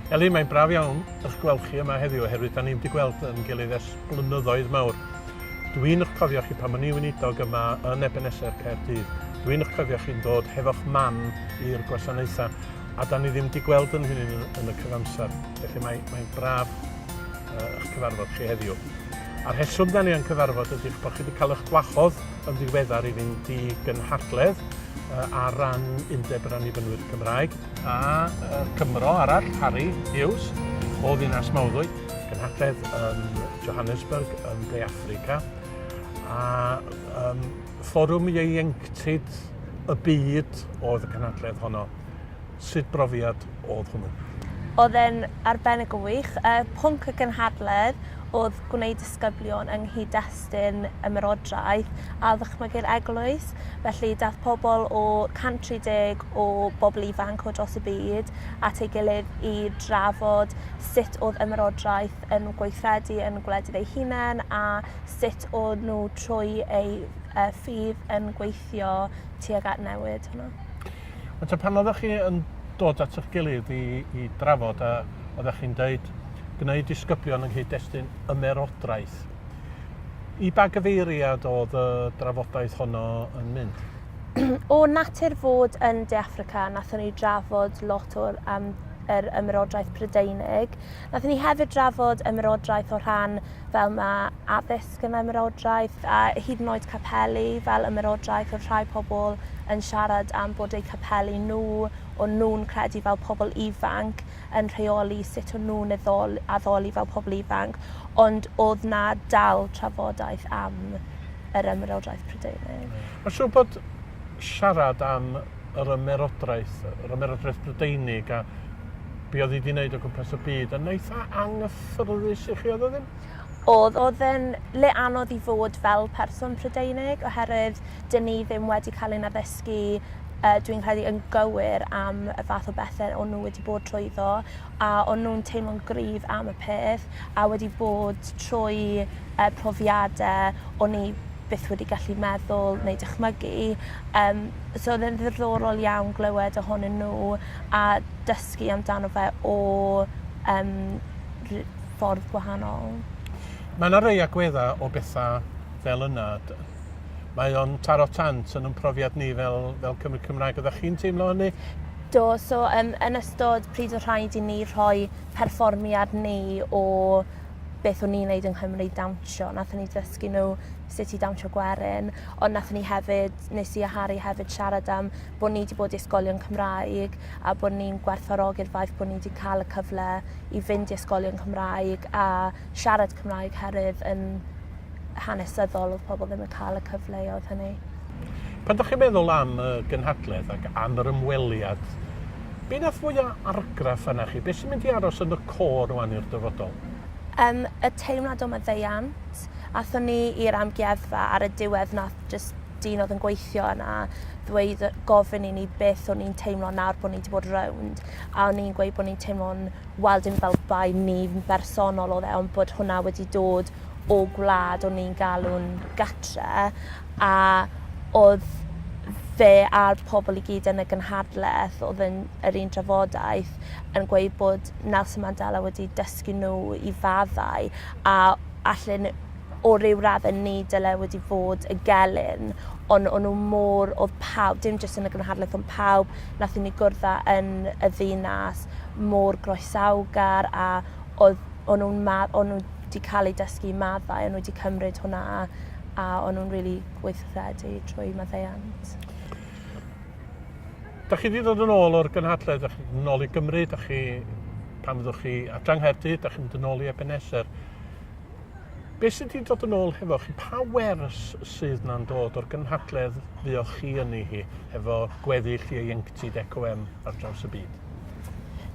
Elin, mae'n braf iawn eich gweld chi yma heddiw oherwydd da ni'n wedi gweld yn gilydd ers blynyddoedd mawr. Dwi'n eich cofio chi pan o'n i weinidog yma yn Ebenezer Caerdydd. Dwi'n eich cofio chi'n dod hefo'ch mam i'r gwasanaethau a da ni ddim wedi gweld yn hyn yn y cyfamser. Felly mae'n mae braf eich cyfarfod chi heddiw. A'r heswm da ni yn cyfarfod ydy'ch bod chi wedi cael eich gwahodd yn ddiweddar i fynd i gynhadledd ar ran Undeb yr Annibynwyr Cymraeg a Cymro arall, Harry Hughes, o ddinas Mawddwy, gynhadledd yn Johannesburg yn De Affrica, a um, fforwm ieuenctid y byd oedd y cynhadledd honno. Sut brofiad oedd hwnnw? Oedd e'n arbennig o wych. Y pwnc y gynhadledd oedd gwneud disgyblion yng nghyd-destun ymerodraeth a ddychmygu'r eglwys. Felly daeth pobl o 130 o bobl ifanc o dros y byd at ei gilydd i drafod sut oedd ymerodraeth yn gweithredu yn gwledydd eu hunain a sut o'n nhw trwy eu ffydd yn gweithio tuag at newid hwnna. Ond ta pan oeddech chi yn dod at eich gilydd i, i drafod a oeddech chi'n dweud gwneud disgyblion yng nghyd-destun ymerodraeth, i ba gyfeiriad oedd y drafodaeth honno yn mynd? o natur fod yn De Affrica, nathon ni drafod lot o'r am yr ymerodraeth Prydeinig, Nathon ni hefyd drafod ymerodraeth o rhan fel ma' addysg yn ymerodraeth, a hyd yn oed capeli fel ymerodraeth, o'dd rhai pobl yn siarad am bod eu capeli nhw, o'n nhw'n credu fel pobl ifanc, yn rheoli sut o'n nhw'n eddol- addoli fel pobl ifanc, ond o'dd 'na dal trafodaeth am yr ymerodraeth Prydeinig. Ma'n siŵr bod siarad am yr ymerodraeth, yr ymerodraeth Brydeinig a be oedd hi wedi wneud o gwmpas y byd, yn eitha anghyffyrddus i chi, oedd o ddim? Oedd, oedd yn le anodd i fod fel person Prydeinig, oherwydd dyn ni ddim wedi cael ein addysgu uh, dwi'n credu yn gywir am y fath o bethau o'n nhw wedi bod trwyddo, a o'n nhw'n teimlo'n gryf am y peth, a wedi bod trwy uh, profiadau o'n ni byth wedi gallu meddwl neu dychmygu. Um, So oedd e'n ddiddorol iawn glywed ohonyn nhw a dysgu amdano fe o um, ffordd gwahanol. Mae yna rei agweddau o bethau fel yna. Mae o'n taro tant yn ymprofiad ni fel, fel Cymru Cymraeg. Oeddech chi'n teimlo hynny? Do, so um, yn ystod pryd o rhaid i ni rhoi perfformiad ni o beth o'n ni'n neud yng Nghymru dawnsio, nath ni ddysgu nhw sut i dawnsio gwerin, ond nathon ni hefyd, nes i a Harri hefyd siarad am bo' ni 'di bod i ysgolion Cymraeg a bo' ni'n gwerthfawrogi'r ffaith bo' ni 'di ca'l y cyfle i fynd i ysgolion Cymraeg a siarad Cymraeg herwydd yn hanesyddol odd pobol ddim yn ca'l y cyfleodd hynny. Pan 'dach chi'n meddwl am y gynhadledd ac am yr ymweliad, be' nath fwya' argraff arnach chi? Be' sy'n mynd i aros yn y côr rŵan i'r dyfodol? Yym y teimlad o maddeuant. Athon ni i'r amgueddfa ar y diwedd nath jyst dyn oedd yn gweithio yna ddweud yy gofyn i ni beth o'n i'n teimlo nawr bo' ni 'di bod rownd a o'n i'n gweud bo' ni'n teimlo'n wel dim fel bai ni yn bersonol odd e ond bod hwnna wedi dod o gwlad o'n ni'n galw'n gatre a odd fe a'r pobol i gyd yn y gynhadleth odd yn yr un drafodaeth yn gweud bod Nelson Mandela wedi dysgu n'w i faddau a allen o ryw radde ni dyle wedi fod y gelyn on o nhw mor oedd pawb dim jyst yn y gynhadleth ond pawb nathon ni gwrdda yn y ddinas mor groesawgar a oedd o nhw'n ma o nhw di cael eu dysgu maddau o nhw wedi cymryd hwnna a o nhw'n rili gweithredu trwy maddeuant. Dach chi 'di dod yn ôl o'r gynhadledd, dach chi'n nôl i Gymru, dach chi... pan fyddwch chi adra Nghaerdydd, dach chi'n mynd yn ôl i Ebenezer. Be' sy 'di dod yn ôl hefo chi? Pa wers sydd 'na'n dod o'r gynhadledd fuoch chi yni hi, hefo gweddill ieuenctid EcoM ar draws y byd?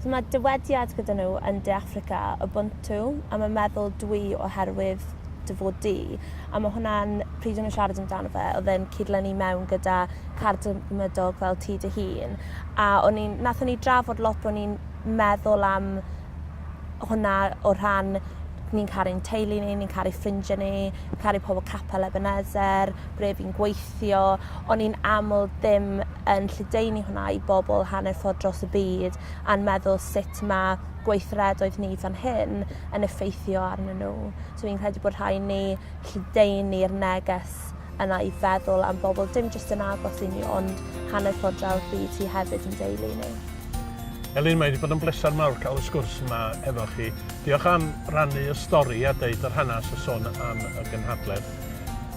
So mae dywediad gyda nhw yn De Affrica, Ubuntu, a mae meddwl dwi oherwydd dy fod di. A mae hwnna'n, pryd o'n nhw'n siarad amdano fe, oedd e'n cydlynu mewn gyda cardymydog fel ti dy hun. A o'n i'n, nath o'n i drafod lot bod ni'n meddwl am hwnna o rhan ni'n caru ein teulu ni, ni'n caru ffrindiau ni, caru pobl capel Ebenezer, ble fi'n gweithio, O'n i'n aml ddim yn lledaenu hwnna i bobl hanner ffordd dros y byd a'n meddwl sut mae gweithredoedd ni fan hyn yn effeithio arnyn nhw. So fi'n credu bod rhaid ni lledaenu'r neges yna i feddwl am bobl dim jyst yn agos i ni ond hanner ffordd draw'r byd sy hefyd yn deulu i ni. Elin, mae wedi bod yn bleser mawr cael y sgwrs yma efo chi. Diolch am rannu y stori a deud yr hanes a sôn am y gynhadledd.